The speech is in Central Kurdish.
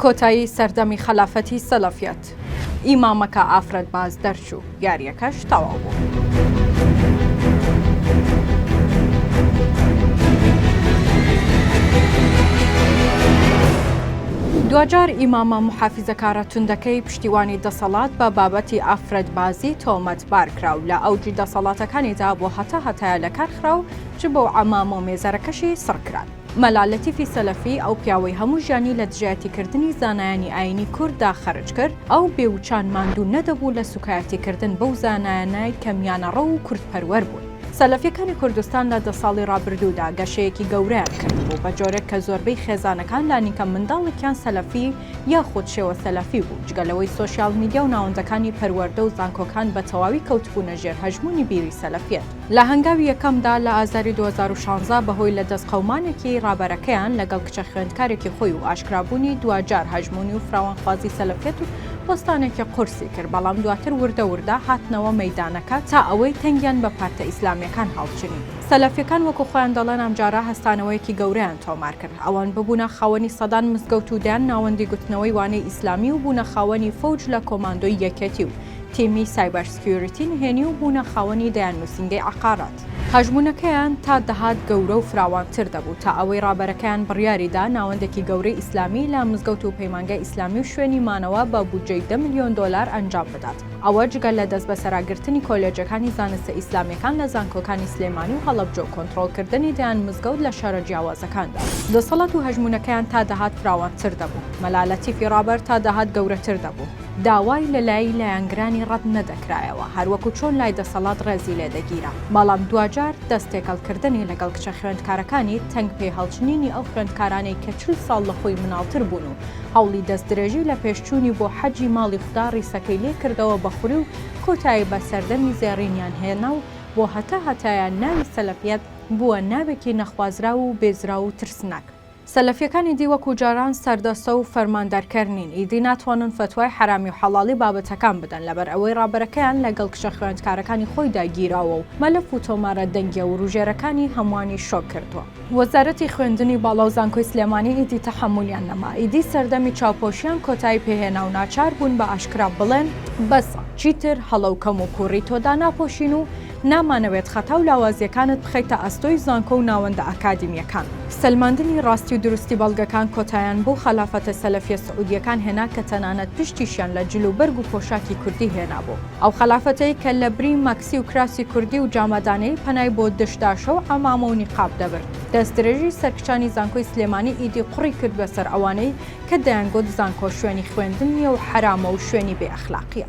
کۆتایی سەردەمی خەلافەتی سەلەفیەت ئیمامەکە ئافرەت باز دەرچوو یاریەکەش تەواو بوو. دواجار ئیمامە محافیزەکارە توندەکەی پشتیوانی دەسەڵات بە بابەتی ئافرەتبازی تۆمەت بارکرا و لە ئەوجی دەسەڵاتەکانیدا بۆ هەتا هەتایە لەکارخرا و چ بۆ عەمامۆ مێزەرەکەشی سڕکران. مەلا لەتیفی سەلەفی ئەو پیاوەی هەموو ژیانی لە دژایەتی کردنی زانایانی ئاینی کورد دا خەرج کرد ئەو بێ وچان ماندوو نەدەبوو لە سوکایەتی کردن بەو زانایانەی کە میانەڕەو و کورد پەروەر بوون. سەلەفیەکانی کوردستان لە دە ساڵی ڕابردوو دا گەشەیەکی گەورەیان کردبوو بە جۆرێک کە زۆربەی خێزانەکان لانیکەم منداڵێکیان سەلەفی یاخود شێوە سەلەفی بوو جگە لەوەی سۆشیال میدیا و ناوەندەکانی پەروەردە و زانکۆکان بە تەواوی کەوتبوونە ژێر هەژموونی بیری سەلەفیەت. لە هەنگاوی یەکەمدا لە ئازاری دوو هەزار و شانزە بەهۆی لەدەست قەومانێکی ڕابەرەکەیان لەگەڵ کچە خوێندکارێکی خۆی و ئاشکرابوونی دواجار هەژموونی و فراوانخوازی سەلەفیەت و بۆستانێکی قورسی کرد بەڵام دواتر وردە وردە هاتنەوە مەیدانەکە تا ئەوەی تەنگیان بە پارتە ئیسلامیەکان هەڵچنی. سەلەفیەکان وەکو خۆیان دەڵێن ئەمجارە هەستانەوەیەکی گەورەیان تۆمار کرد ئەوان ببوونە خاوەنی سەدان مزگەوت و دەیان ناوەندی گوتنەوەی وانەی ئیسلامی و بوونە خاوەنی فەوج لە کۆماندۆی یەکێتی و تیمی سایبەر سکیۆریتی نهێنی و بوونە خاوەنی دەیان نووسینگەی عەقارات. هەژموونەکەیان تا دەهات گەورە و فراوانتر دەبوو، تا ئەوەی ڕابەرەکەیان بڕیاری دا ناوەندێکی گەورەی ئیسلامی لە مزگەوت و پەیمانگای ئیسلامی و شوێنی مانەوە بە بودجەی دە ملیۆن دۆلار ئەنجام بدات. ئەوە جگە لە دەستبەسەراگرتنی کۆلێجەکانی زانستە ئیسلامیەکان لە زانکۆکانی سلێمانی و هەڵەبجە و کۆنتڕۆڵکردنی دەیان مزگەوت لە شارە جیاوازەکاندا. دەسەڵات و هەژموونەکەیان تا دەهات فراوانتر دەبوو. مەلا لەتیفی ڕابەر تا دەهات گەورەتر دەبوو. داوای لە لایی لایەنگرانی ڕەت نەدەکرایەوە هەر وەکو چۆن لای دەسەڵات ڕێزی لێ دەگیرا بەڵام دواجار دەست تێکەڵ کردنی لەگەڵ کچە خوێندکارەکانی تەنگ پێ هەڵچنینی ئەو خوێندکارانەی کە چل ساڵ لە خۆی مناڵتر بوون و هەوڵی دەست درێژی لە پێش چوونی بۆ حەجی ماڵی خودا ڕیسەکەی لێ کردەوە بە خوری و کۆتایی بە سەردەمی زێڕینیان هێنا و بۆ هەتا هەتایە ناوی سەلەفیەت بووە ناوێکی نەخوازراو و بێزراو و ترسناک. سەلەفیەکان ئیدی وەکو جاران سەردەستە و فەرماندەرکەر نین، ئیدی ناتوانن فەتوای حەرامی و حەڵاڵی بابەتەکان بدەن لەبەر ئەوەی ڕابەرەکەیان لەگەڵ کچە خوێندکارەکانی خۆیدا گیراوە و مەلەف و تۆمارە دەنگیە وروژێرەکانی هەموانی شۆک کردووە. وەزارەتی خوێندنی باڵا و زانکۆی سلێمانی ئیدی تەحەمولیان نەما، ئیدی سەردەمی چاوپۆشیان کۆتایی پێهێنا و ناچار بوون بە ئاشکرا بڵێن، بەسە، چیتر هەڵە و کەموکووڕی تۆ داناپۆشین و نامانەوێت خەتا و لاوازییەکانت بخەیتە ئەستۆی زانکۆ و ناوەندە ئەکادیمییەکان. سەلماندنی ڕاستی و دروستی بەڵگەکان کۆتایان بەو خەلافەتە سەلەفییە سعودییەکان هێنا کە تەنانەت پشتیشیان لە جل و بەرگ و پۆشاکی کوردی هێنابوو. ئەو خەلافەتەی کە لە بری مەکسی و کراسی کوردی و جامەدانەیی پەنای بۆ دشداشە و عەمامە و نیقاب دەبرد. دەستدرێژی سەرکچانی زانکۆی سلێمانی ئیدی قوڕی کرد بەسەر ئەوانەی کە دەیانگوت زانکۆ شوێنی خوێندن نییە و حەرامە و شوێنی بێ ئەخلاقییە.